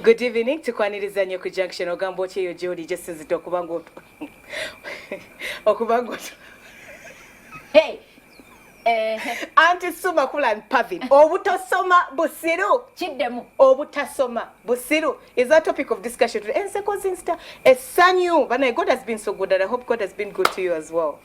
Good evening tukwaniriza nnyo ku junction ogamba otya eyo gyoli gyesinzidde okuba nga okuba nga eh, eh. anti suma kulan pavin obutasoma busiru kiddemu obutasoma busiru is that topic of discussion today enseko zinsta essanyu banaye god has been so good and i hope god has been good to you as well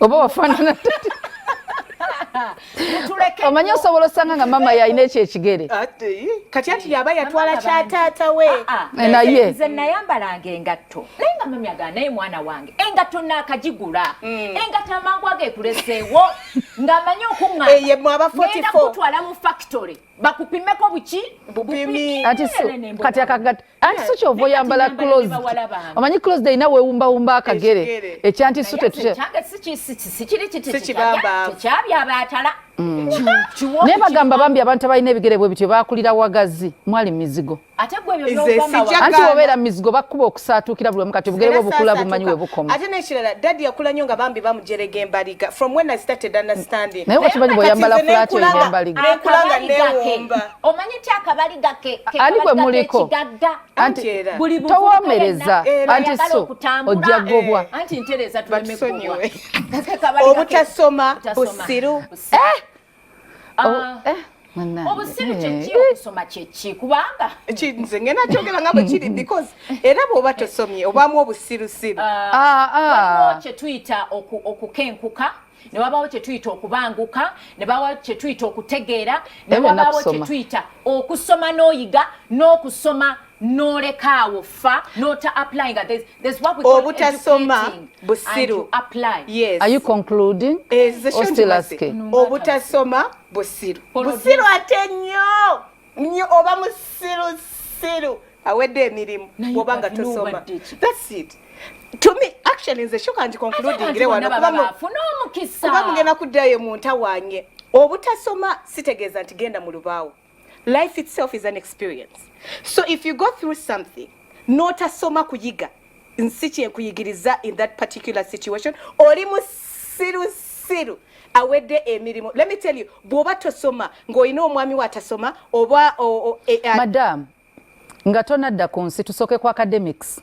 oba wafaanana omanyi osobola osanga nga mama yalina ekyo ekigere kati ati yaba yatwala kya taata we ah, ah. naye nze nayambalanga engatto naye nga mami agaa naye mwana wange engatto naakagigula hmm. engatto amangu ageekuleseewo ng'amanyi okuŋŋaanagenda kutwala mu factory bakupimeko buki bupimi kati akagatto anti so kyova oyambala closed omanyi closed erina wewumbawumba akagere ekyanti so tetukyabyabatala mm. naye bagamba bambi abantu abalina ebigere bwe bityo bakulira wagazi mwali mizigo anti obeera mizigo bakuba okusaatuukira buli omu kati obugere bwe bukula bumanyi we bukoma ate nekirala dadi yakula nyo nga bambi bamujerega embaliga from when i started understanding naye wakimanyi bweoyambala flat oina embaliga omanyi ti akabaliga kekigagga towomereza anti so ojja gobwa eh. anti ntereza tulemegobwa obutasoma busiru eh! ah. oh, eh. obusiru eh. kyeki okusoma kyeki kubanga nze ngenda kyogera nga bwekiri because era bwoba tosomye obamu obusirusiru ah. ah, kyetuyita okukenkuka ne wabaawo kye tuyita okubanguka ne bawaawo kye tuyita okutegeera ne wabaawo kye tuyita okusoma n'oyiga n'okusoma n'olekaawo fa n'ota applying obutasoma busiru obutasoma busiru busiru ate nnyo nyo oba musiru siru awedde emirimu oba nga tosoma that's it to me actually nze shuka ndi concludingire wano kuba mugenda kuddayo mu ntawange obutasoma sitegeeza nti genda mu lubaawo life itself is an experience so if you go through something notasoma kuyiga nsi kyekuyigiriza in that particular situation oli musirusiru awedde emirimu let me tell you bwoba tosoma ng'olina omwami we atasoma oba e, e, madam nga tonadda ku nsi tusooke ku academics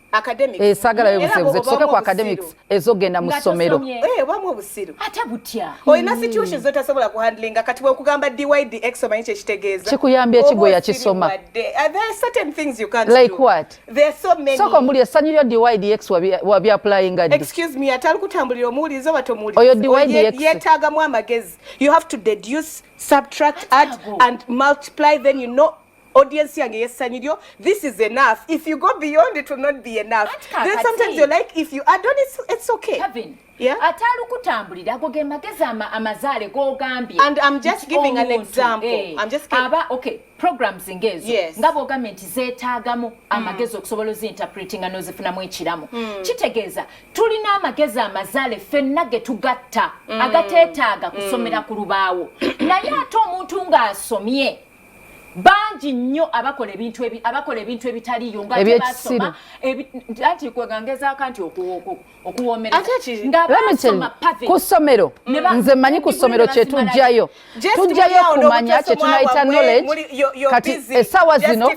esagala eh, yobusebuze tusooke ku academics ezogenda mu ssomero eh, obamu obusiru ate butya olina hmm. situation zotasobola ku handlinga kati bwekugamba dyd x omanyi kyekitegeeza kikuyambye ki gwe yakisoma eh, like what soko mbuli essanyu lyo dydx wabyaplayinga ddi excuse me atali kutambulira omuwuliriza oba tomuwuliriza oyo dydx yeetaagamu amagezi you have to deduce subtract add and multiply then you know audience yange yessanyu lyo this is enough if you go beyond it will not be enough then sometimes you're like if you add on it's, it's okay Kevin. Yeah. atalukutambulira ago ge magezi ama, amazaale gogambye And I'm just nti giving an omuntu, example. eh, I'm just giving- aba okay programs ngezo Yes. nga bwogambye nti zeetaagamu amagezi okusobola oziinterpretinga n'ozifunamu ekiramu kitegeeza tulina amagezi amazaale ffenna ge tugatta agateetaaga kusomera ku lubaawo naye ate omuntu ng'asomye bangi nnyo abakola ebintu ebi- abakola ebintu ebitaliyo nga Ebyekisiru. tebasoma ebi- anti kwegangezako anti oku- oku- ku ssomero nze manyi ku ssomero kyetujjayo tujjayo kumanya kyetunayita knowledge kati esawa zino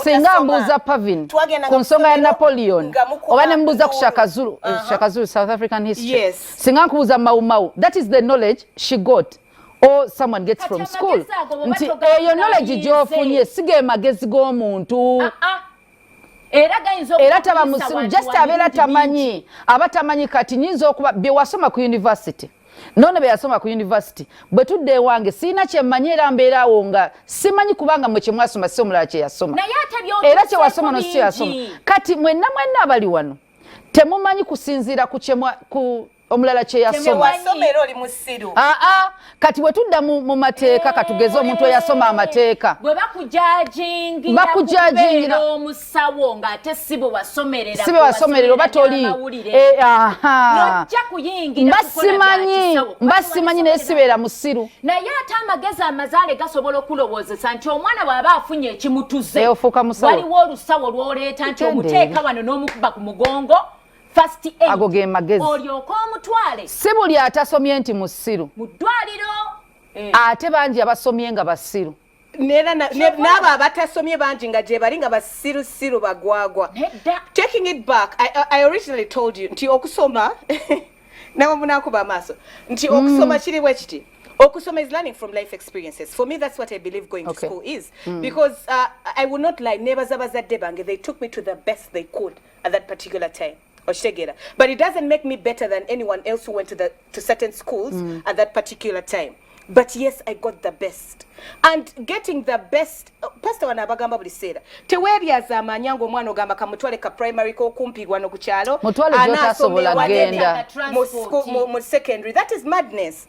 singa mbuuza pavin ku nsonga ya napoleon oba nembuuza ku shakazulu eh, uh-huh. shakazulu south african history singa nkubuuza maumau that is the knowledge she got or someone gets from school nti eyo knowledge gyofunye sigemagezi g'omuntu ah, ah. era taba musiru just abeera tamanyi aba tamanyi kati nyinza okuba byewasoma ku univesity nono beyasoma ku univesity bwe tudde ewange sirina kyemmanyi era mbeeraawo nga simanyi kubanga mwe kyemwasoma si omulala kyeyasoma era kyewasoma no sikyeyasoma kati mwenna mwenna abali wano temumanyi kusinziira ku omulala kyeyasoma ah, ah, kati bwe tudda mu mateeka eh, katugeze omuntu eyasoma amateeka bakujagingira omusawo ng'ate si bwe wasomerera si bwe wasomerera oba toli eh, basimanyi basimanyi naye sibeera musiru naye ate amagezi amazaale gasobola okulowoozesa nti omwana bw'aba afunye ekimutuze eh, waliwo olusawo lw'oleeta nti omuteeka wano n'omukuba ku mugongo first aid ago ge magezi olyoka omutwale si buli atasomye nti musiru mu ddwaliro eh. ate bangi abasomye nga basiru nera n'abo abatasomye bangi nga gyebali nga basirusiru bagwagwa taking it back I, i originally told you nti okusoma nawe munakuba amaaso nti mm. okusoma kiri bwe kiti okusoma is learning from life experiences for me that's what i believe going okay. to school is mm. because uh, i will not lie nebaza bazadde bange they took me to the best they could at that particular time okitegera but it doesn't make me better than anyone else who went to, the, to certain schools mm. at that particular time but yes i got the best and getting the best uh, pastor wana abagamba buli seera teweeryaza amaanyi ange omwana ogamba kamutwale ka primary kokumpi wano ku kyalo anaasomewamu secondary that is madness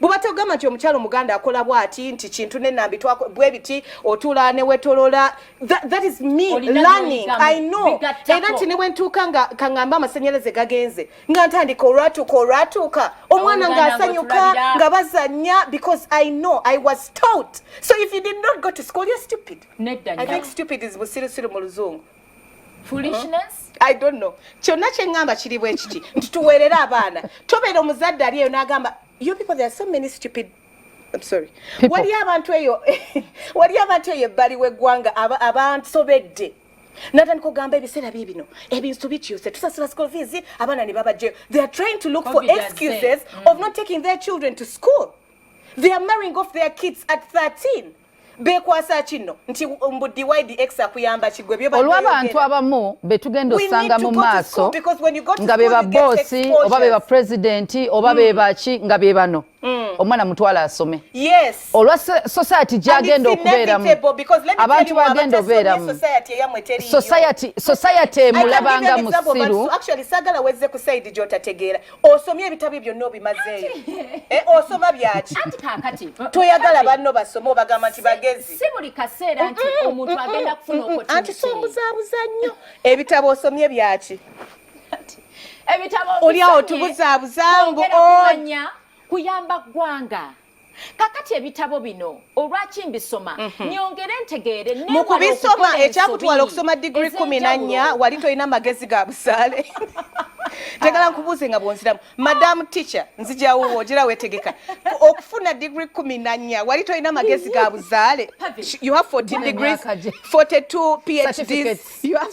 bubate ogamba nti omukyalo omuganda akola bwati nti kintu nenambi bwe biti otuula ne wetolola that is me learning i know era nti ne bwe ntuuka nga kaŋŋamba amasannyalaze gagenze nga ntandika olwatuuka olwatuuka omwana ng'asanyuka nga bazannya because i know i was taught so if you did not go to school you're stupid nedda i think stupid is busirusiru mu luzungu kyonna kyeŋŋamba kiri bwe kiti nti tuweerere abaana tobeera omuzadde ali eyo n'agamba yo people there are so many stupid I'm sorry. Wali abantu eyo wali abantu eyo ebbali w'eggwanga abansobedde natandika ogamba ebiseera bye bino ebintu bikyuse tusasula school fees abaana ne babajjeyo they are trying to look for excuses of not taking their children to school they are marrying off their kids at 13 bekwasa kinno nti mbu dydx akuyamba kigwe byoolwabantu abamu betugenda osanga mu maaso nga beba boosi oba beba pulezidenti oba mm. bebaki nga bebano mm. omwana mutwala asome olwa society gyagenda okubeeramu abantu bagenda obeeramu society emulabanga musiru osomye ebitabo byonna obimazeeyo eh, osoma byaki toyagala banno basome obagamba nti bagezi anti sombuzabuza nnyo ebitabo osomye byaki oli awo tubuzabuzambu kuyamba ggwanga kakati ebitabo bino olwaki mbisoma mhm. nyongere ntegeere mu kubisoma ekyakutwala okusoma digiri kumi na nnya wali tolina magezi ga busaale njagala ah. nkubuuze nga bwonziramu madamu ticha nzijawo wojera wetegeka okufuna digiri kumi na nnya wali tolina magezi ga buzaale you have 14 degrees 42 phds you have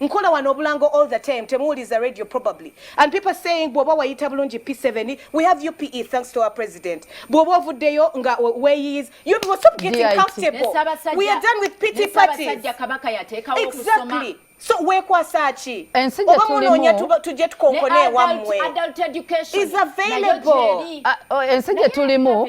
nkola wano obulango all the time temuwuliza radio probably and people saying bwoba wayita bulungi p7 we have you pe thanks to our president bwoba ovuddeyo nga weyiz you will stop getting comfortable we are done with pity parties exactly so wekwasa ki oba munoonya tujje tukonkone ewammwe is available ah, oh, ensi gye tulimu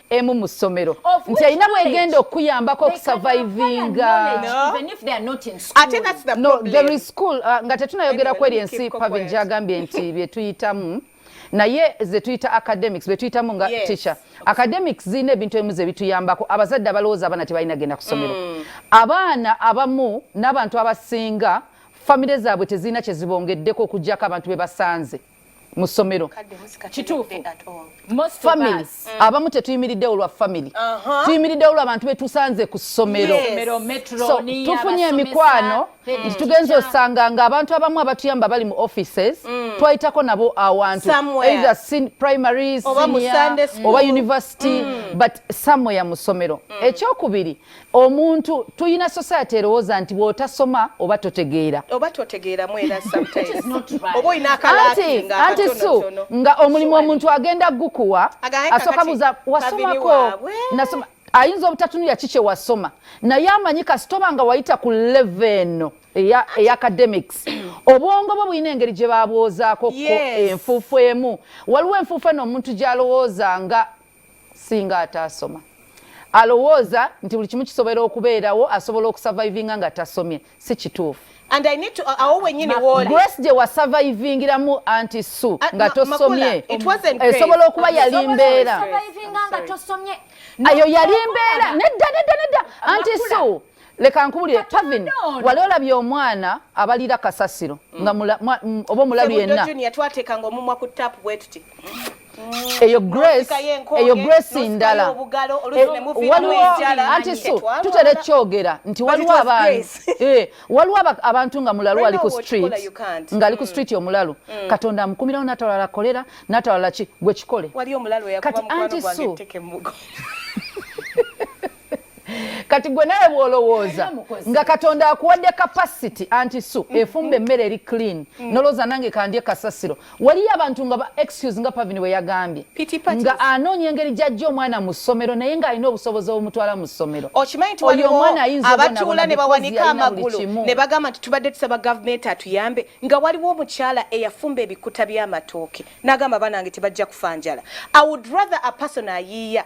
emu mu ssomero nti alina bwegenda okuyambako okusavaivinga uh, nga tetunayogera kweri ensi pavin gyagambye nti byetuyitamu naye zetuyita academics betuyitamu nga yes. teacher academics zirina ebintu ebimu zebituyambako abazadde abalowooza abaana tebalina genda ku ssomero mm. abaana abamu n'abantu abasinga famire zaabwe tezirina kyezibongeddeko okugyako abantu bebasanze mu ssomero kituufu family mm. abamu tetuyimiridde olwa family uh-huh. tuyimiridde olwa bantu betusanze ku ssomero tufunye emikwano nti tugenza osanga nga abantu abamu abatuyamba bali mu offices mm. twayitako nabo awantu either primary senior oba university mm. but somewhere mu ssomero ekyokubiri omuntu tuyina society erowooza nti bwotasoma oba totegeera oba totegeera mwera sometimes oba oyina akalakinga anti su nga omulimu omuntu agenda gukuwa asoka buza wasomako nasoma ayinza obutatunulira ki kyewasoma naye amanyi kasitoba nga wayita ku leve eno eya academics obwongo bwo bulina engeri gye babwozaako enfuufu emu waliwo enfuufu eno omuntu gyalowooza nga singa ataasoma alowooza nti buli kimu kisobola okubeerawo asobola okusavaivinga nga tasomye si kituufu grace gye wasavaivingiramu anti su uh, nga tosomye esobola okuba yali mbeera ayo yali mbeera nedda nedda nedda anti su leka nkubulire pavin wali olabye omwana abalira kasasiro mm. nga mm, oba omulabi yenna eyo grace eyo grace ndala eh, waliwo anti su tutera ekyogera nti waliwo abantu eh, waliwo abantu nga mulalu ali ku street nga ali ku mm. street omulalu mm. katonda amukumirawo natawalala kolera natawalala ki gwe kikole kati anti su kati gwe nawe bwolowooza nga katonda akuwadde capacity anti su mm-hmm. efumba emmere eri clean mm-hmm. nolowooza nange kandye kasasiro waliyo abantu nga excuse nga pavin bwe yagambye nga anoonya engeri gyajja omwana mu ssomero naye ng'alina obusobozi obumutwala mu ssomero okimanyi nti waliwo omwana abatuula ne bawanika amagulu ne bagamba nti tubadde tusaba gavumenti atuyambe nga waliwo omukyala eyafumba ebikuta by'amatooke n'agamba banange tebajja kufa njala i would rather a person ayiiya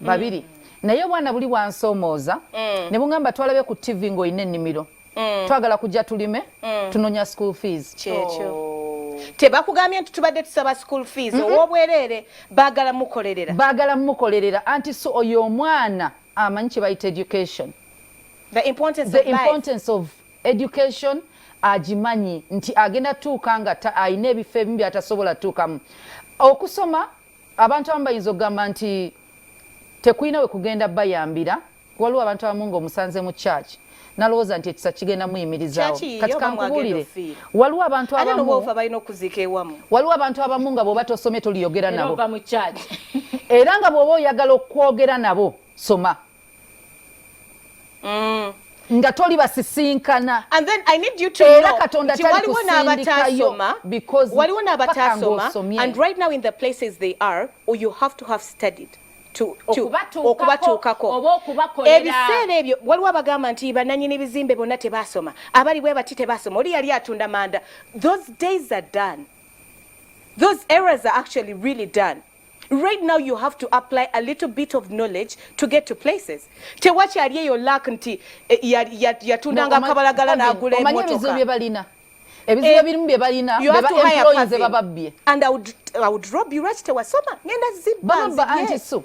babiri naye obwana buli bwansomooza mm. ne bungamba twalabe ku tv ng'olina ennimiro mm. twagala kujja tulime mm. tunonya school fees kyekyo oh. tebakugambye nti tubadde tusaba school fees mm -hmm. owobwereere baagala mukolerera baagala mukolerera anti so oyo omwana amanyi kye bayita education the importance, the of, importance life. of education agimanyi nti agenda tuuka nga alina ebifo ebimu byatasobola tuukamu okusoma Abantu abamu bayinza okugamba nti tekulina we kugenda bayambira waliwo abantu abamu nga omusanze mu church nalowooza nti ekisa kigenda muyimirizaawo kati kankubuulire waliwo abantu abamu waliwo abantu abamu nga bwoba tosomye toliyogera nabo era nga bwoba oyagala okwogera nabo soma mm. nga toli basisinkana era katonda talikusindikayo because waliwo n'abataasoma and right now in the places they are or you have to have studied okubatuukako ebiseera ebyo waliwo abagamba nti bananyini bizimbe bonna tebasoma abali bwe bati tebasoma oli yali atunda manda those days are done those errors are actually really done right now you have to apply a little bit of knowledge to get to places tewakyali eyo lak nti eh, yatundanga akabalagala n'agula emotoka byebalina ebizibu eh, ebirimu bye balina bebaemployinze bababbye and i would, I would rob you right tewasoma ngenda zibba anti so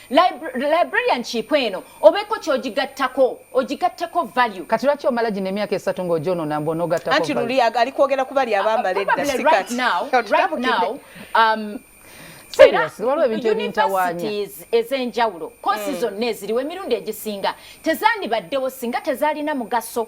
librarian kiipo eno obeeko kyogigattako ogigatteko value kati lwaki omala gino emyaka esatu ng'ogyonona mbu onogattako anti luli ali kwogera ku bali abambala uh, edda sikati universities ez'enjawulo kosi hmm. zonna eziriwo emirundi egisinga tezandibaddewo singa tezalina mugaso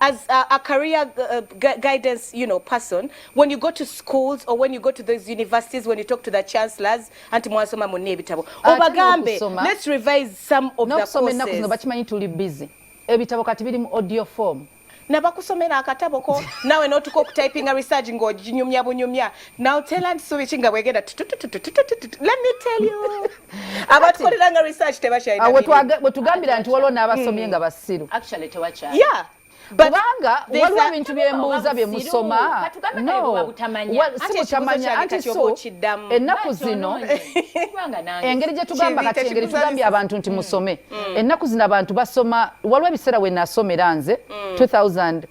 as a, a career uh, guidance you know person when you go to schools or when you go to those universities when you talk to the chancellors anti mwasoma munne ebitabo ah, obagambe let's revise some of the courses no bakimanyi tuli busy ebitabo kati biri mu audio form nabakusomera akatabo ko nawe notuka okutypinga research ng'oginyumya bunyumya now tell and subichi nga bwegenda let me tell you abatukolera nga research tebakyalina awo bwetugambira nti waliwo n'abasomye hmm. nga basiru actually tewakyali yeah kubanga waliwo ebintu byembuuza bye musoma sibutamanya anti so ennaku zino engeri gye tugamba kati engeri tugambye abantu nti hmm. musome hmm. ennaku zino abantu basoma waliwo ebiseera we nasomera nze 2000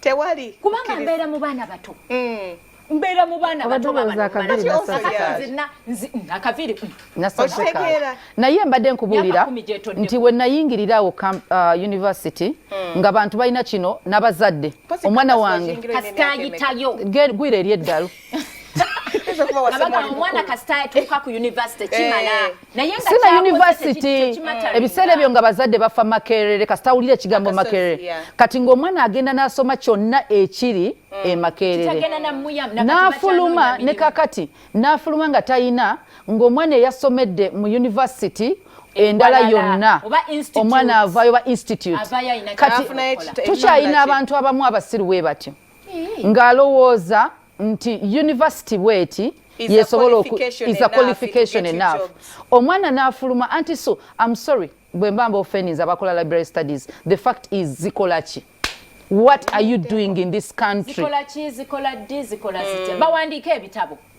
tewali kubanga mbeera mu baana bato mm. mbeera mu baana batoakaviirinaye mm, mbadde nkubuulira nti we nayingirira awo uh, university hmm. nga bantu balina kino n'abazadde omwana wange gwira eri eddalu omwana kasita yatuuka ku university kimala eh. si na yunivasiti ebiseera ebyo nga bazadde bafa makerere kasita awulira ekigambo makerere kati ng'omwana agenda n'asoma kyonna ekiri mm. e makerere n'afuluma ne kakati n'afuluma nga talina ng'omwana eyasomedde mu yunivasiti endala yonna omwana avaayo ba institute kati tukyalina abantu abamu abasiru we batyo ng'alowooza nti yunivasiti bweti yesobola is a qualification enough omwana n'afuluma anti so am sorry bwe mba mba ofeninza abakola library studies the fact is zikola ki what are you doing in this country zikola ki zikola ddi zikola zitya mm. bawandiika ebitabo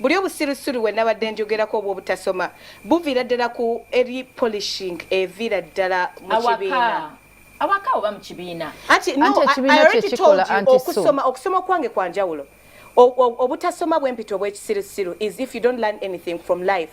Buli obusirusiru we nabadde njogerako obw'obutasoma buviira ddala ku eri polishing eviira ddala mu kibiina awaka oba mu kibiina anti okusoma okusoma okwange kwa njawulo obutasoma bw'empita obw'ekisirusiru is if you don't learn anything from life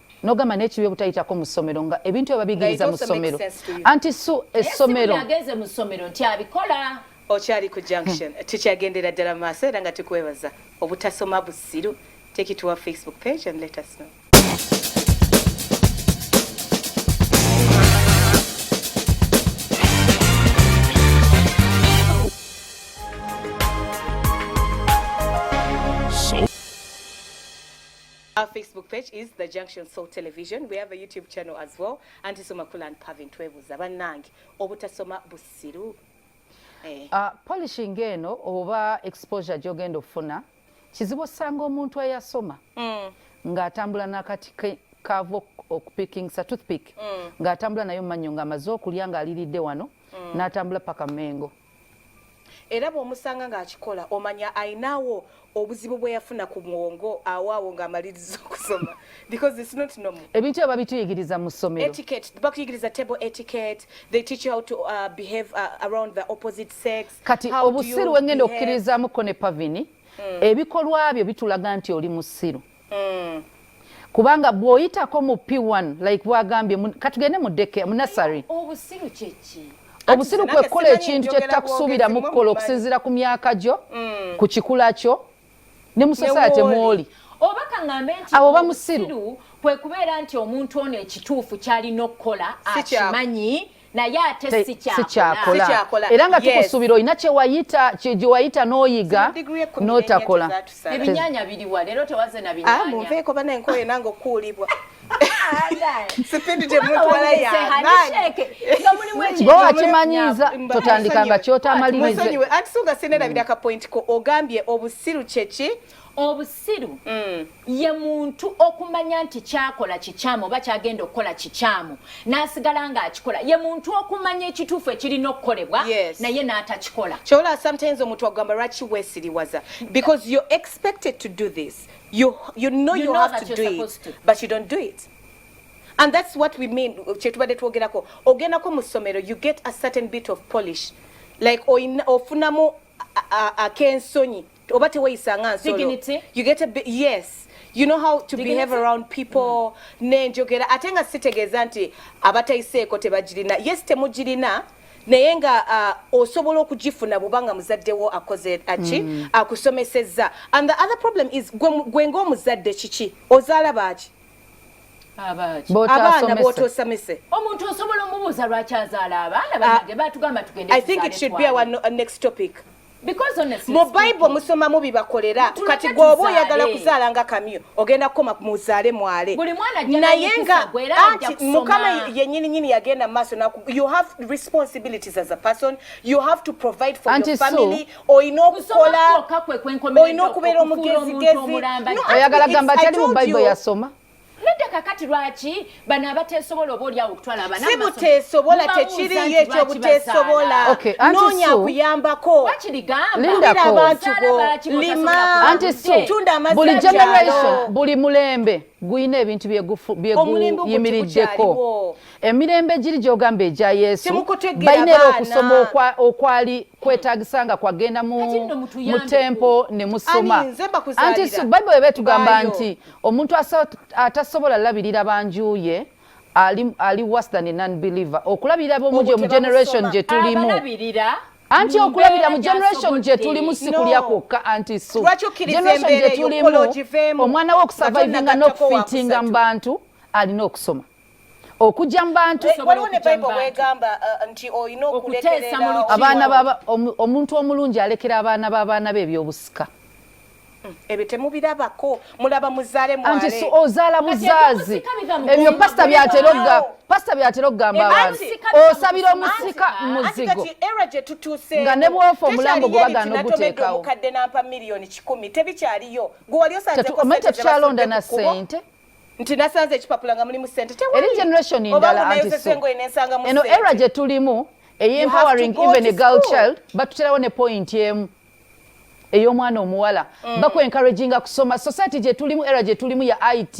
nogamba naye kibi obutayitako mu ssomero nga ebintu ebabigiriza mu ssomero anti su essomero ageze mu ssomero nti abikola okyali ku junction hmm. tukyagendera ddala maaso era nga tukwebaza obutasoma busiru take it to our facebook page and let us know Our Facebook page is The Junction Soul Television. We have a YouTube channel as well. Anti Sumakula and Pavin Twebuza banange obutasoma busiru. Eh. Uh, polishing eno oba exposure gyogenda ofuna kizibu osanga omuntu eyasoma mm. ng'atambula n'akati kaava okupikingisa toothpick mm. ng'atambula nayo mu mannyo ng'amaze okulya ng'aliridde wano mm. n'atambula paka mengo era bwomusanga ngaakikola omanya ayinaawo obuzibu bweyafuna ku mwongo awaawo ngaamaliriza okusoma because it's not normal ebintu ebyo babituyigiriza mu ssomero etiquette bakuyigiriza table etiquette they teach you how to uh, behave uh, around the opposite sex kati obusiru wengenda okukkirizaamukko ne pavini mm. ebikolwa byo bitulaga nti oli musiru mm. kubanga bwoyitako mu p1 like bwagambye katugende mu deke mu nasary obusiru kyeki obusiru kwekukola ekintu kyetutakusuubira mu kukola okusinziira ku myaka gyo mm. ku kikula kyo ne mu sosayate mwoli oba kaŋambe nti abo bamusiru kwe kubeera nti omuntu ono ekituufu kyalina okukola akimanyi naye ate sikyakola era nga tukusuubira olina kyewayita gyewayita n'oyiga n'otakola ebinyanya biriwa leero tewaze na binyanya ah, munveeko banaye nkoye nange okuulibwa gwewakimanyiiza totandika nga kyotamalirizeanti suga sinera biraka point ko ogambye obusiru kyeki obusiru mm. ye muntu okumanya nti kyakola kikyamu oba kyagenda okukola kikyamu nasigala nga akikola ye muntu okumanya ekituufu ekirina okukolebwa yes. naye n'atakikola kyola sometimes omuntu agamba lwaki wesiriwaza because you're expected to do this you, you know you, you know have to do it to. but you don't do it and that's what we mean kyetubadde twogerako ogendako mu ssomero you get a certain bit of polish like ofunamu ak'ensonyi oba teweyisa nga nsolo you get a bit, yes you know how to Dignity? behave around people mm. nenjogera ate nga sitegeeza nti abatayiseeko tebagirina yes temugirina naye nga uh, osobola okugifuna bwobanga muzaddewo akoze aki mm. akusomesezza and the other problem is gwe ngaomuzadde kiki ozaala baaki abaana botosomese omuntu osobola omubuuza lwaki azaala abaana banage ah, batugamba tugende i think it should be our next topic mu bible musomamu bibakolera kati gweoba oyagala kuzaala nga kamyo ogenda kukoma muzaale mwale naye nga anti mukama yenyini nyini yagenda maaso you have responsibilities as a person you have to provide for your family olina okukola olina okubeera omugezigezi oyagala gamba tali mu bible yasoma nedda kakati lwaki bano abateesobola oba olyawo okutwala abana si buteesobola tekiriyo ekyo buteesobola noonya akuyambako abantu bo lima tunda amazibuli generation buli mulembe guyina ebintu byeguyimiriddeko emirembe giri gyogamba egya yesu balina era okusoma okwali kwetagisa nga kwagenda mu tempo ne musoma anti bible eba etugamba nti omuntu atasobola labirira banjuye ali, ali worse than a non-believer okulabirira bomujo mu generation gye tulimu anti okulabira mu generation gye tulimu si kulya kwokka anti su generation gye tulimu omwana we okusurvivinga n'okufitinga mu bantu alina okusoma okujja mu bantu eh, waliwo ne bible wegamba uh, nti olina okulekerera abaana baba omuntu omulungi alekera abaana b'abaana be ebyobusika hmm, ebyo temubirabako mulaba muzaale mwale anti ozaala buzaazi ebyo pasita byatera okugamba pasita byatera okugamba abantu osabira omusika muzigo nga ne bwofa omulambo gwe bagaana oguteekawo tetukyalonda na sente nti nasanze ekipapula nga mulimu sente tewali generation endala anti so eno era gye tulimu eye empowering even a girl child batuterawo ne point emu ey'omwana omuwala mm. baku encouraginga kusoma society gye tulimu era gye tulimu ya it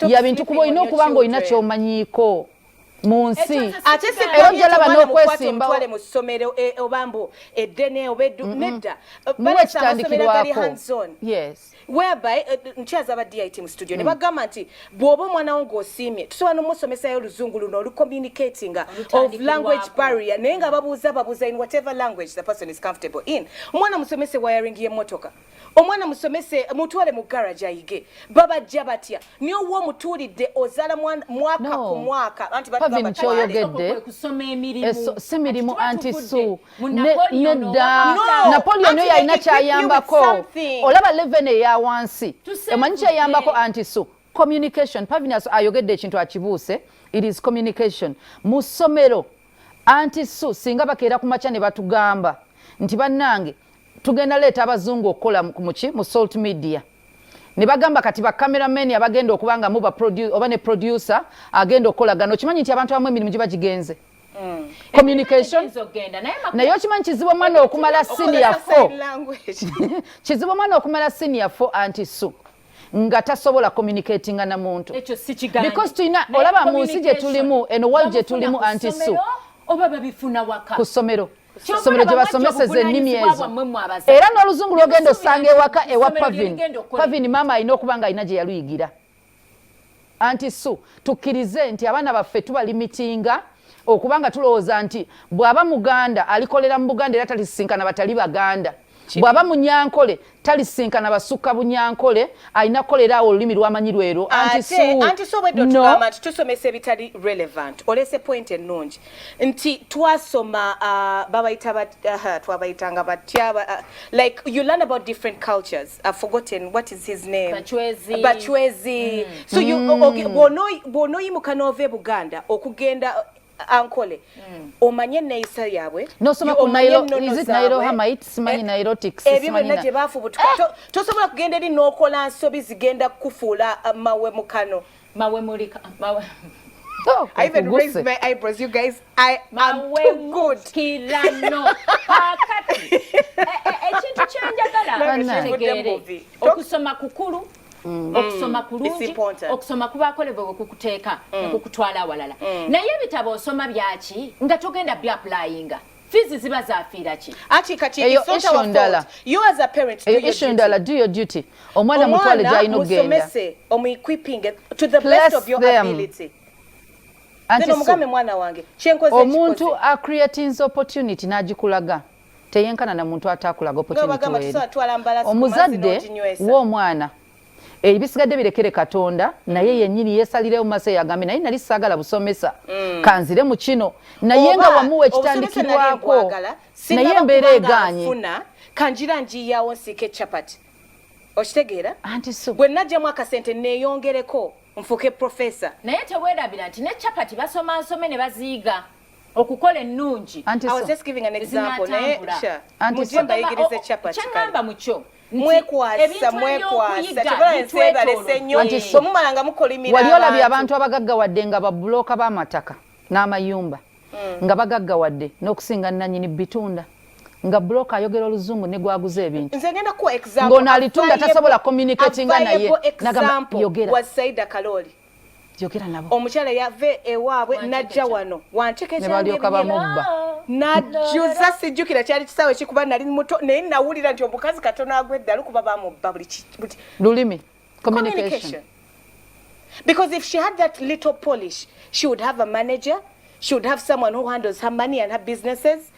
ya bintu kuba olina okuba nga olina kyomanyiiko mu nsi era ojala bana okwesimbawo mu ssomero e, oba mbu eddene oba eddu mm-hmm. nedda muwe ekitandikirwako yes whereby eh, eh, nkyaza aba dit mu studio ne hmm. bagamba nti bw'oba omwana wo ng'osiimye tusobola n'omusomesayo oluzungu luno olucommunicatinga of language barrier naye nga babuuza babuuza in whatever language the person is comfortable in omwana musomese wiring y'emmotoka omwana musomese mutwale mu garage ayige babajja batya naye owa omutuulidde ozaala mwaka ku mwaka anti batugamba kyoyogedde si mirimu anti su nedda napoleon oyo alina kyayambako olaba leven eya wansi emanyi kyayambako anti so communication pavinas ayogedde ekintu akibuuse it is communication mu ssomero anti su singa bakeera ku makya ne batugamba nti bannange tugenda leeta abazungu okukola muki mu salt media ne bagamba kati bacameraman abagenda okuba nga muba oba ne producer agenda okukolagana okimanyi nti abantu abamu emirimu giba gigenze Mm. communication naye okimanyi kizibu omwana okumala senior fo kizibu omwana okumala senior fo anti su nga tasobola communicatinga na muntu because tulina olaba mu nsi gye tulimu eno world gye tulimu anti su ku ssomero somero gye basomeseza ennimi ezo era n'oluzungu lwogenda osanga ewaka ewa pavin pavin maama alina okuba nga alina gye yaluyigira anti su tukkirize nti abaana baffe tubalimitinga okuba nga tulowooza nti bw'aba muganda alikolera mu buganda era talisisinkana batali baganda bw'aba munyankole talisisinkana basukka bunyankole alina kukolera awo olulimi lwamanyi lwero anti su obwedde otugamba nti tusomesa ebitali relevant olese point ennungi nti twasoma uh, babayita uh, twabayitanga batya uh, like you learn about different cultures i've forgotten what is his name bachwezi, bachwezi. Mm. so you mm. okay, bwonoyimuka n'ova e buganda okugenda ankole mm. omanye neyisa yabwe nosoma ku nairo is it nairo hamite simanyi eh, nairo tics ebyo byonna gye bafubutuka eh! tosobola kugenda eri n'okola nsobi zigenda kukufuula uh, mawe mukano mawe muli mawe Oh, I even raised my eyebrows, you guys. I am too good. Kirano. Kakati. Ekintu kyenjagala ntegeere okusoma kukulu mm. okusoma mm. kulungi okusoma kubakolebwa kukuteeka mm. nekukutwala awalala naye ebitabo osoma byaki nga togenda byapulayinga fizi ziba zafiira ki ati kati eyo issue ndala you as a parent eyo issue ndala do your duty omwana mutwale gyalina okugenda omwana musomese omuequipping to the Place best of your them. ability omugambe mwana wange kyenkoze omuntu acreatinze opportunity n'agikulaga teyenkana na muntu atakulaga opportunity omuzadde w'omwana ebisigadde birekere katonda naye yenyini yesalirewo maso yagambye naye nali sagala busomesa mm. kanzire mu kino naye nga wamuwa ekitandikirwako naye embeera eganye kanjira njiyawo nsike chapati okitegeera anti so bwe najjamu akasente neyongereko nfuke profesa naye tewerabira nti ne chapati basoma nsome ne baziiga okukola ennungi kyeŋamba mukyo wali olabye abantu abagagga wadde nga babuloka b'amataka n'amayumba mm. nga bagagga wadde n'okusinga nanyini bitunda nga buloka ayogera oluzungu negwaguza ebintu ng'ono alitunda tasobola communicatinga naye nagamba yogera yogera nabo omukyala yave ewaabwe najja wano wantekebalyoka bamubba najjuza sijjukira kyali kisaawe kikuba nali muto naye nawulira nti omukazi katono agwa eddalu kuba bamubba buli lulimi communication because if she had that little polish she would have a manager she would have someone who handles her money and her businesses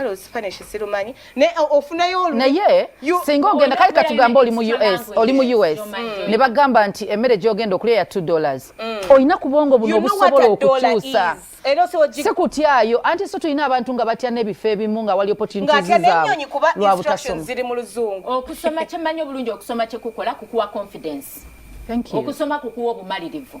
kale osifane kisirumanyi naye ofunayo olu naye singa ogenda kale katugamba oli mu us oli mu us mm. ne bagamba nti emmere gyogenda okulya ya 2 dollars mm. olina kubwongo buno obusobola okukyusa sikutyayo anti so tulina abantu nga batya n'ebifo ebimu nga wali opportunitislwabutasomaziri mu luzungu okusoma kyemanyi obulungi okusoma kyekukola kukuwa confidence okusoma kukuwa obumalirivu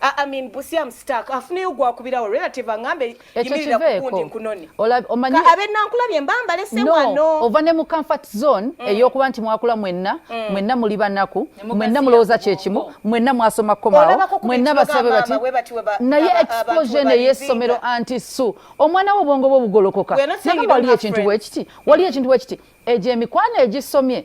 I mean busi am stuck afuneyo gwakubirawo relative angambe yimirira kukundi nkunoni omanyi abe nankulabye mbamba lese wano no ova ne mu comfort zone mm. eyokuba nti mwakula mwenna mm. mwenna muli banaku mwenna mulowoza kyekimu mwenna mwasoma komawo mwenna basabe bati naye exposure ne yesomero anti su omwana wo bongo bwo bugolokoka naye wali ekintu wekiti wali ekintu wekiti eje mikwano ejisomye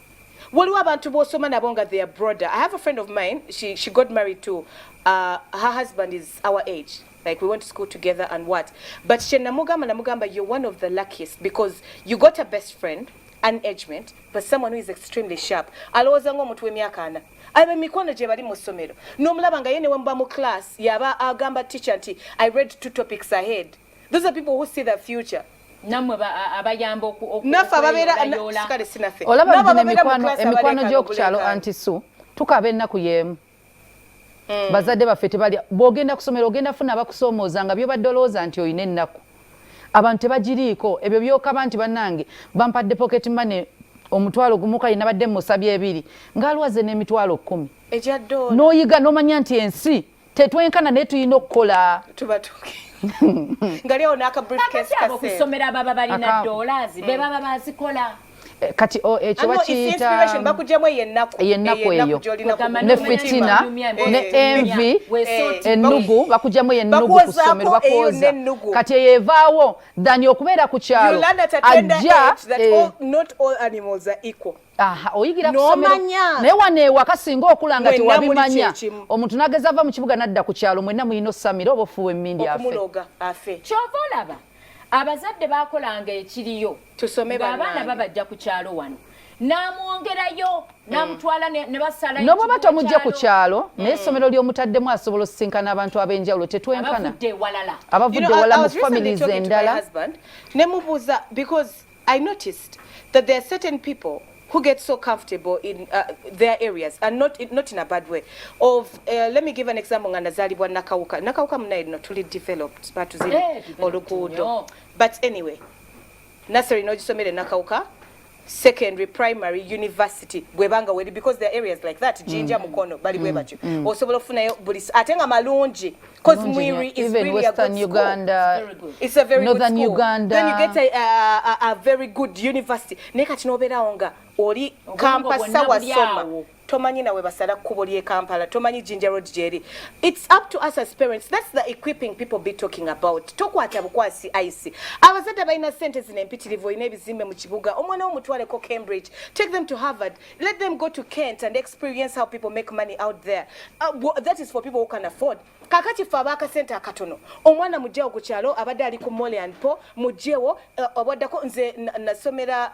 waliwo abantu bosoma nabo nga they are broader i have a friend of mine she, she got married to uh, her husband is our age like we went to school together and what but kyenamugamba namugamba you're one of the luckiest because you got a best friend an agement but someone who is extremely sharp alowooza ngaomuntu w'emyaka ana aba emikwano gye bali mu ssomero n'omulaba nga ye ne wemuba mu class yaba agamba teacher nti i read two topics ahead those are people who see the future namwe abayamba naffe ababeera kale sinaffe olaba emikwano gy'okukyalo anti su tukaba ennaku y'emu hmm. bazadde baffe tebalya bw'ogenda kusomera ogenda funa abakusoomooza nga byobadde olowooza nti olina ennaku abantu tebagiriiko ebyo byokaba nti bannange bampadde pocket money omutwalo gumu kale nabadde musabye ebiri ng'alwaze n'emitwalo kkumi n'oyiga n'omanya nti ensi tetwenkana naye tulina okukola nga lyawo nakabriefcasekusomera baba balina dollars be mm. baba bazikola eh, kati oh, ekyo eh, bakiyitabakujamu eyo ennaku eyo ne fitina ne envi ennugu bakujamu eyo ennugu kusomero bakwoza kati eyo evaawo dani okubeera ku kyalo ajja oyigira kusomero naye wano ewaka singa okula nga tewabimanya omuntu nageza ava mu kibuga nadda ku kyalo mwenna mulina osamira oba ofuuwa emmindi afe kyova olaba abazadde bakolanga ekiriyo abaana babajja ku kyalo wano namwongerayo mm. namutwala nebasala noba oba tomujja ku kyalo naye mm. essomero lyomutaddemu asobola osisinkana abantu ab'enjawulo tetwenkana abavudde ewala mu families endala nemubuuza because I noticed that there are certain people who get so comfortable in uh, their areas and not in, not in a bad way of uh, let me give an example nga nazalibwa nakawuka nakawuka munaye no tuli developed batuziri eh, oluguudo but anyway nasary nogisomere nakawuka secondary primary university bwebanga weli because there are areas like that jinja mm. mukono bali bwe mm. batyo mm. osobola okufunayo buli ate nga malungi mm. Because Mwiri is even really Western a good Uganda, school. Very good. It's a very Northern good school. Uganda. Then you get a, a, a, a very good university. Naye kati n'obeerawo nga oli kampasa wasoma tomanyi nawe basala kkubo ly'e kampala tomanyi jinja road gyeri its up to us as parents thats the equipping people be talking about tokwata bukwasi ice abazadde balina sente zino empitirivu olina ebizimbe mu kibuga omwana womutwaleko cambridge take them to harvard Let them go to Kent and experience how people make money out there. Uh, well, that is for people who can afford. Kakati fa ba kasenta akatono. Omwana mujeo ku kyalo abadde ali ku Mole and Po mujeo uh, obadako nze nasomera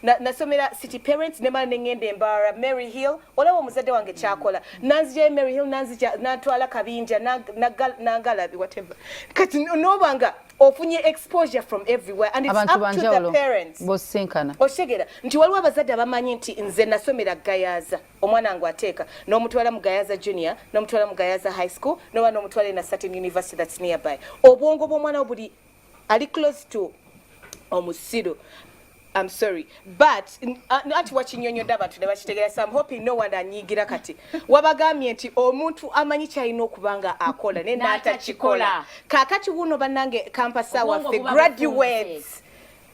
na nasomera na City Parents ne mala nengende embara Mary Hill olaba omuzadde wange kyakola mm. nanzi je Mary Hill nanzi ja natwala kabinja na na, na galabi whatever. Kati nobanga no ofunye exposure from everywhere and it's Abantu up to the parents bosinkana oshegera nti waliwo abazadde abamanyi nti nze nasomera gayaza omwana wange ateeka n'omutwala mu gayaza junior n'omutwala mu gayaza high school noba n'omutwala ena certain university that's nearby obwongo bw'omwana buli ali close to omusiru I'm sorry but anti wakinyonyodde abantu ne bakitegera so I'm hoping no one anyigira kati wabagambye nti omuntu amanyi kyalina okuba nga akola naye n'atakikola kaakati wuuno bannange kampasa waffe graduates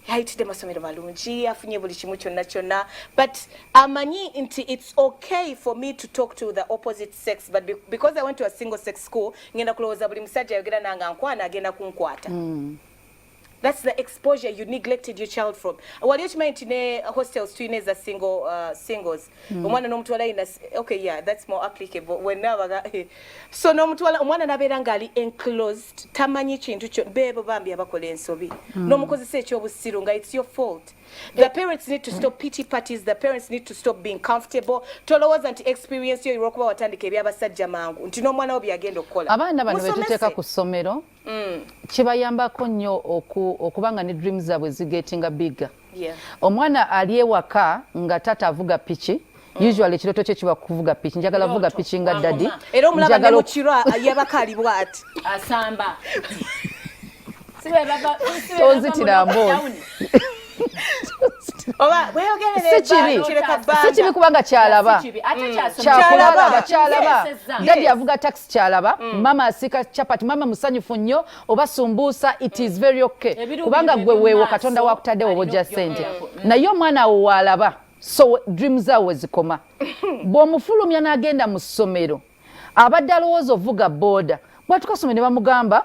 yayitidde masomero malungi afunye buli kimu kyonna kyonna but amanyi nti it's okay for me to talk to the opposite sex but because i went to a single sex school ngenda kulowooza buli musajja ayogera nanga nkwana agenda kunkwata mm. That's the exposure you neglected your child from. Wali okimanyi nti ne hostels tulina eza single uh, singles. Mm. Omwana n'omutwala ina okay yeah that's more applicable when nabaga so n'omutwala omwana nabeera ngali enclosed tamanyi kintu kyo bebo bambi abakola ensobi. Mm. N'omukozesa ekyobusiru nga it's your fault. The parents need to stop pity parties. The parents need to stop being comfortable. Tolowooza nti experience yo olwokuba watandika ebyabasajja mangu nti n'omwana wo byagenda okukola. Abaana bano betuteeka ku ssomero mm. kibayambako nnyo okuba nga ne dream zabwe zigetinga bigga yeah. omwana ali ewaka nga tata avuga piki mm. usually ekiroto kye kiba kuvuga piki njagala vuga piki nga dadi era omulaba ne mukiro yabaka ali bwati asamba tozitira mboozi sikibi kubanga kyalaba kyalaba dadi avuga taxi kyalaba mm. mama asika chapati mama musanyufu nnyo oba sumbuusa it is very okay kubanga gwe weewo katonda wakutadde woba ojja sente naye omwana awo waalaba so dream zaawo wezikoma bw'omufulumya n'agenda mu ssomero abadde alowooza ovuga booda bwatukasome ne bamugamba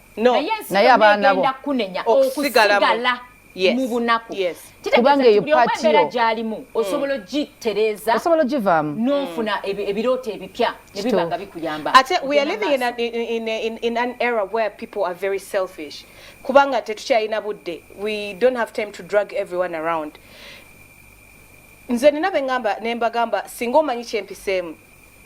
no naye abaana bo kunenya okusigala yes. mu bunaku yes. kubanga eyo patiyo gyalimu mm. osobola ogitereeza osobola ogivaamu n'ofuna mm. ebirooto ebipya ne biba nga bikuyamba ate we are living in, a, in, in, in an era where people are very selfish kubanga tetukyalina budde we don't have time to drug everyone around nze nina bengamba nembagamba singa omanyi kyempiseemu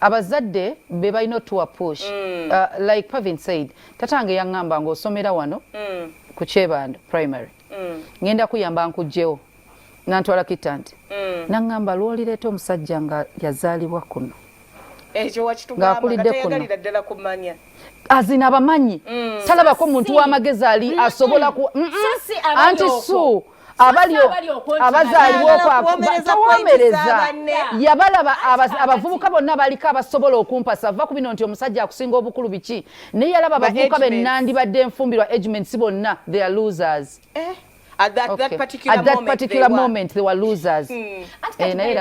abazadde be balina otuwa push mm. uh, like pavin said tatange yaŋŋamba ng'osomera wano mm. ku kyebando primary mm. ngenda kuyamba nkugjewo nantwala kitanti mm. naŋŋamba lwolireeta omusajja nga yazaalibwa kuno ng'akulidde kuno azina abamanyi mm. talabako omuntu w'amagezi ali asobola ku anti su abali abazaalibwa okwakuwomereza yabalaba abavubuka bonna baliko abasobola okumpasa va ku bino nti omusajja akusinga obukulu biki naye yalaba abavubuka bennandibadde enfumbirwa agments bonna they are losers eh? at that, okay. that particular, at that moment, particular they moment were, they were losers hmm. eh, naye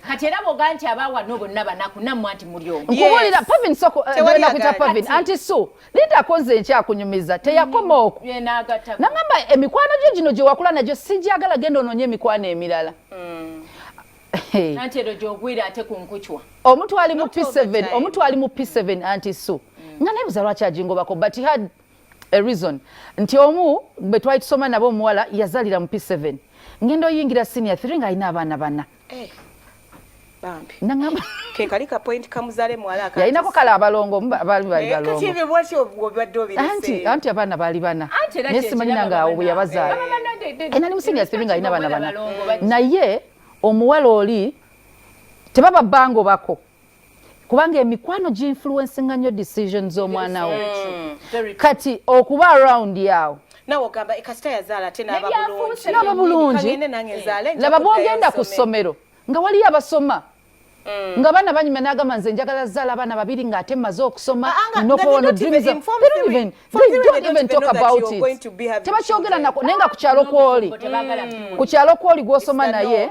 kati era boga nti abawa no bonna banaku namwe anti mulyomu nkubulira pavin soko eh, nakuyita pavin anti su Linda akoze nkyakunyumiza teyakoma oku nangamba emikwano gyo gino gye wakula nagyo sigyagala genda onoonye emikwano emirala mm. anti ero gyogwira ate ku nkucwa omuntu ali mu p7 omuntu ali mu p7 anti so mm. nga nebuza lwaki agingobako but had a reason nti omu bwe twali tusoma nabo omuwala yazalira mu p7 ngenda oyingira senior 3 nga alina abaana bana hey. Eh, bambi nangamba kekali ka point kamuzale mwala akati yainako kala abalongo bali bali eh, balongo kati bwati obwobadde obirese anti anti abana bali bana nesi manyi nanga obu yabazala ena ni musinga sibinga ina bana bana naye omuwala oli tebaba bango bako kubanga emikwano giinfluensinga nnyo decision z'omwana wo mm. kati okuba around yawo nawe ogamba kasita yazaala ate naaba bulungi laba bwogenda ku ssomero nga waliyo abasoma Mm. nga bana banyuma nagamba nze njagala zala abana babiri nga ate maze okusoma ah, ah, nokuwona tebakyogera nako naye nga kukyalo kwoli mm. kukyalo kwoli gwosoma naye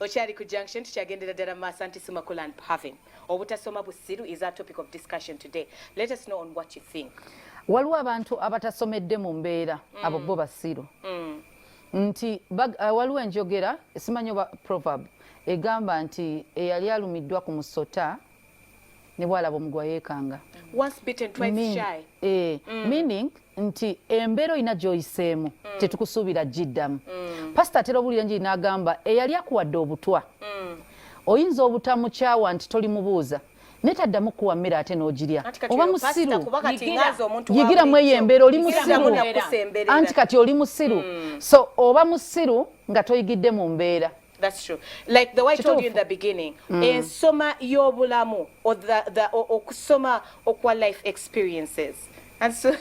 Okyali ku junction tukyagendera ddala mu maaso anti Simakula and Pavin. Obutasoma busiru is our topic of discussion today. Let us know on what you think. Waliwo abantu abatasomedde mu mbeera mm. abo bo basiru. Mm. Nti uh, waliwo enjogera simanyi oba proverb egamba nti eyali alumiddwa ku musota ne bwalaba omugwa yeekanga eh, mm. meaning nti embeera olina gyoyiseemu mm. tetukusuubira giddamu mm. pasita atera obuulira enjiri n'agamba eyali akuwadde obutwa oyinza obutamukyawa nti toli mubuuza naye taddamu kuwa mmere ate n'ogirya oba musiru yigira mu eyo embeera oli musiru anti kati oli musiru so oba musiru nga toyigidde mu mbeera That's true. Like the way I told you in the beginning, mm. in soma yobulamu or the the or, or soma okwa life experiences. And so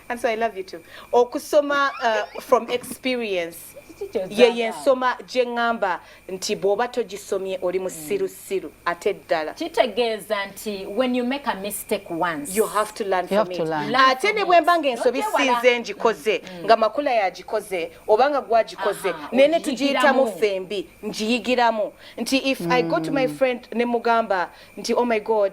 and so I love you too. Or kusoma uh, from experience. Ye ye soma jengamba nti bwoba tojisomye oli musiru mm. musiru ate ddala kitegeeza nti when you make a mistake once you have to learn from it ate ne bwemba nga ensobi sinze ngikoze mm. nga makula yagikoze oba nga gwagikoze naye ne tugiyitamu fembi ngiyigiramu nti if i go to my mm. friend ne mugamba nti oh my god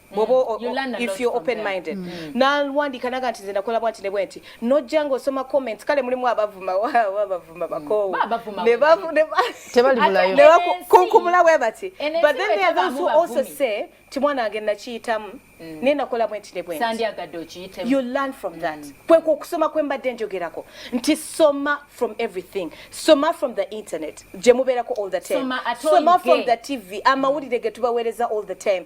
mwoba if you open minded mm. mm. nalwandika naga nti nze nakola bwanti ne bwenti nojja ng'osoma comments kale mulimu abavuma abavuma mm. bakoowu kunkumula we bati but then there are those who also say ti mwana wange nakiyitamu mm. naye nakola bwenti ne bwenti you learn from that mm. kwekwo okusoma kwe mbadde njogerako nti soma from everything soma from the internet gye mubeerako all the time soma from the tv amawulire ge tubaweereza all the time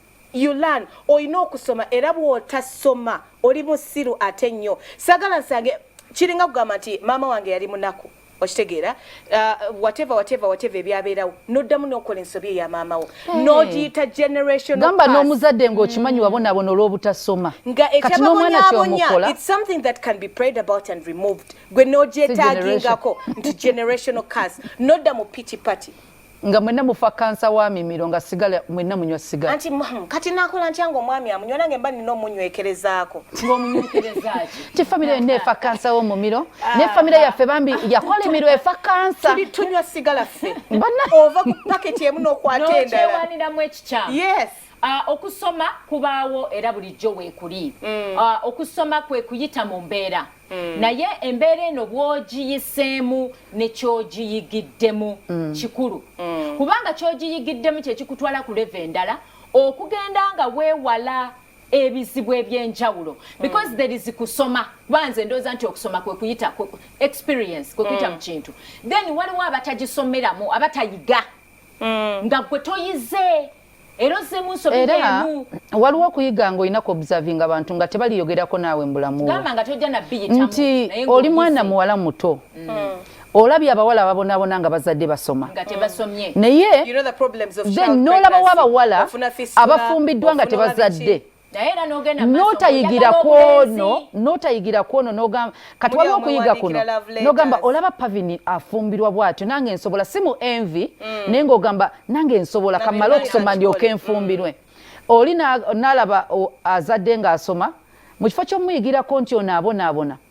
you learn olina okusoma era bwotasoma oli musiru ate nnyo sagala nsange kiringa kugamba nti maama wange yali munaku okitegeera uh, whatever whatever whatever ebyabeerawo noddamu nokola ensobi eya maama wo hmm. nogiyita generationgamba n'omuzadde ngaokimanyi hmm. wabonabona olw'obutasoma nga ekyababonyabonya its something that can be prayed about and removed gwe nogyetagingako nti generational cas nodda mu pity party nga mwenna mufa kansa wa mimiro nga sigala mwenna munywa sigala anti mum kati nakola ntya nga omwami amunywa nange mba nina omunywekerezaako nti famire yonna efa kansa w'omumiro ah. ne famire yaffe bambi yakola emiro efa kansa tunywa sigala ffe ova ku paketi emu n'okwata endalawaniramu ekikyamu yes Uh, okusoma kubaawo era bulijjo weekuli mm. uh, okusoma kwe kuyita mu mbeera Mm. naye embeera eno bwogiyiseemu nekyogiyigiddemu mm. kikulu mm. kubanga kyogiyigiddemu kyekikutwala ku leve endala okugenda nga weewala ebizibu ebyenjawulo because mm. there is kusoma kuba nze ndooza nti okusoma kwekuyita experience kwekuyita mm. mu kintu then waliwo abatagisomeramu abatayiga mm. nga gwe toyize era osemu nsobi emu waliwo okuyiga nga olina kuobserving abantu nga tebaliyogerako naawe mbulamu nti oli mwana muwala muto mm. Mm. olabye abawala ababonabona nga bazadde basoma naye then nolabawo abawala abafumbiddwa nga tebazadde notayigira kwono notayigira kwono nogamba kati waliwo okuyiga kuno nogamba olaba pavini afumbirwa bwatyo nange nsobola si mu envi mm. naye ngaogamba nange nsobola kamale okusoma ndyoke enfumbirwe mm. oli nalaba azadde ngaasoma mu kifo kyomuyigirako nti onaabonaabona na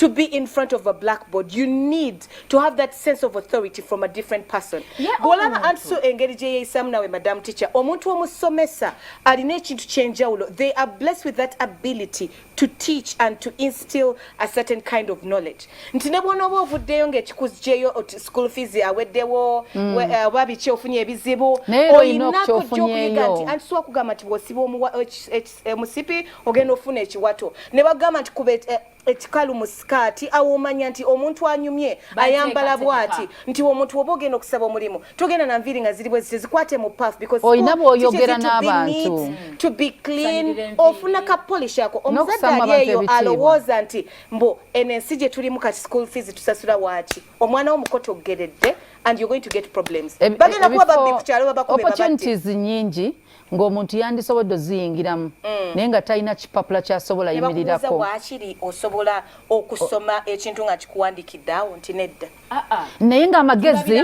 to be in front of a blackboard you need to have that sense of authority from a different person bwolaba anti so engeri gyeyeyisamu nawe madam teacher omuntu omusomesa alina ekintu kyenjawulo they are blessed with that ability to teach and to instill a certain kind of knowledge nti ne bwonooba ovuddeyo ngaekikuzjeyo oti school fees aweddewo mm. eh, oba biki ofunye ebizibu oyinako gyokuyiga nti anti siwakugamba nti bwosiba omuwa hcc emusipi eh, ogenda ofuna ekiwato ne bagamba nti kuba eh, ekikalu mu sikaati awo omanya nti omuntu anyumye ayambala bwati nti omuntu oba ogenda okusaba omulimu togenda na nviiri nga ziri bwezi tezikwate mu paf olina bwoyogera n'abantu to be clean ofuna ka polish ako omuzadde ali eyo alowooza nti mbu eno ensi gye tulimu kati school fees tusasula waaki omwana wo mukoto oggeredde and you're going to get problems eh, bagenda kuba babbi ku kyalo babakube opportunities nyingi ng'omuntu yandisobodde oziyingiramu mm. naye nga talina kipapula kyasobola yimirirako wakiri osobola okusoma ekintu nga kikuwandikidde awo nti nedda ah, ah. naye ng'amagezi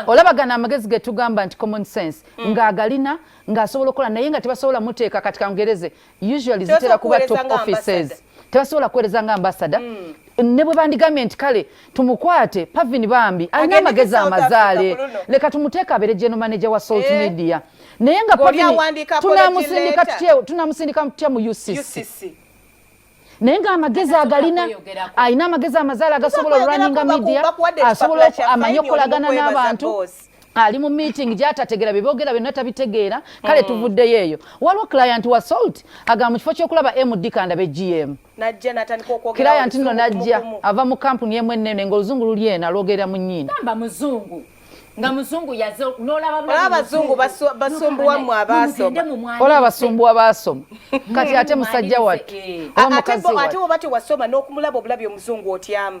olabagana amagezi getugamba nti common sense mm. ng'agalina ng'asobola okukola naye nga tebasobola muteeka kati kangereze usually zitera kuba top offices tebasobola kuweereza nga ambasada mm. ne bwe bandigambye nti kale tumukwate pavin bambi alina amagezi amazaale leka tumuteeka abeere geno manaja wa salt eh. media naye nga tunamusindika tutya mu ucc naye nga amagezi agalina alina amagezi amazaale agasobola oluraninga media asobola amanye okukolagana n'abantu boss. ali mu meeting gyatategera byebogera byonna tabitegeera kale mm. tuvuddeyo eyo waliwo client wa salt agamba mu kifo kyokulaba md kanda be gm client nno najja ava mu kampuni emu ennene ngaoluzungu luli ena lwogerera mu nyindo nga muzungu yaze nolaba abazungu basumbuwa mu abasoma olaba basumbuwa basoma kati ate musajja wattu eh. ate bwebati wasoma nokumulaba obulabi omuzungu otyamu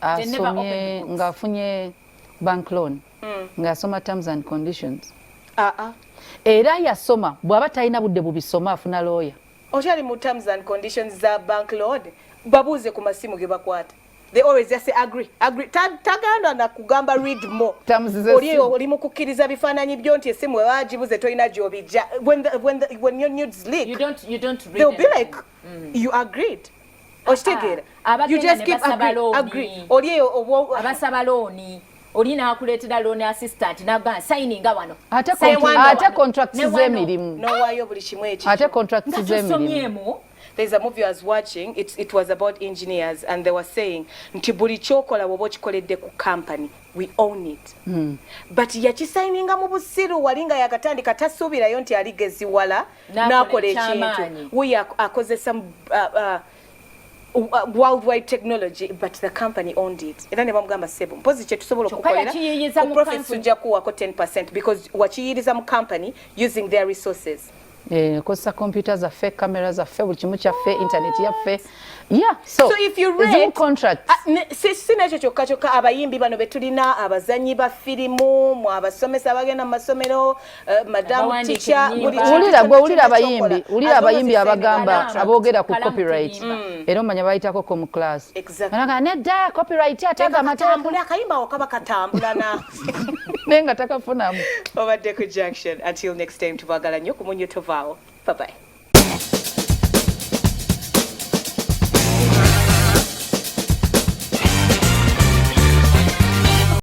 asomye ng'afunye bank loan hmm. ng'asoma terms and conditions ah, ah. era yasoma bw'aba talina budde bubisoma afuna looya okyali mu terms and conditions za bank load babuuze ku masimu ge bakwata they always just say agree agree tagandwa na kugamba read more oli oli mukukiriza bifananyi byo nti esimu wajibuze toina jobi when the, when the, when your nudes leak you don't you don't read they'll be like mm. you agreed okitegeera ah, ah. you just keep agree, agree. oli eyo obwo abasaba looni oli nakuleetera loan assistant nagamba sayininga wano ate contract z'emirimu nowaayo buli kimu ekyo ate contract z'emirimu there's a movie I was watching it, it was about engineers and they were saying nti buli kyokola woba okikoledde ku company we own it mm. but yakisayininga mu busiru wali nga yakatandika tasuubirayo nti aligeziwala nakola ekintu wuyo akozesa uh, uh, uh, worldwide technology but the company owned it era ne bamugamba sebo mpozi kyetusobola okukolera profit tujja kuwako 10 because wakiyiriza mu company using their resources Eh, kosa computer za fake camera za fake bulikimu kya fake internet ya fake yeah so, so if you read zoom contract ah, si si nacho choka choka abayimbi bano betulina abazanyi ba filimu mu abasomesa bagenda masomero Eh, wulira gwe wulira abayimbi wulira abayimbi abagamba aboogera ku copyright mm. era omanya bayitako ko mu class anaga nedda copyright ataaga amatambula akayimba okaba katambulana naye nga takafunamu obadde ku junction until next time tubagala nnyo ku munyo tovaawo babayi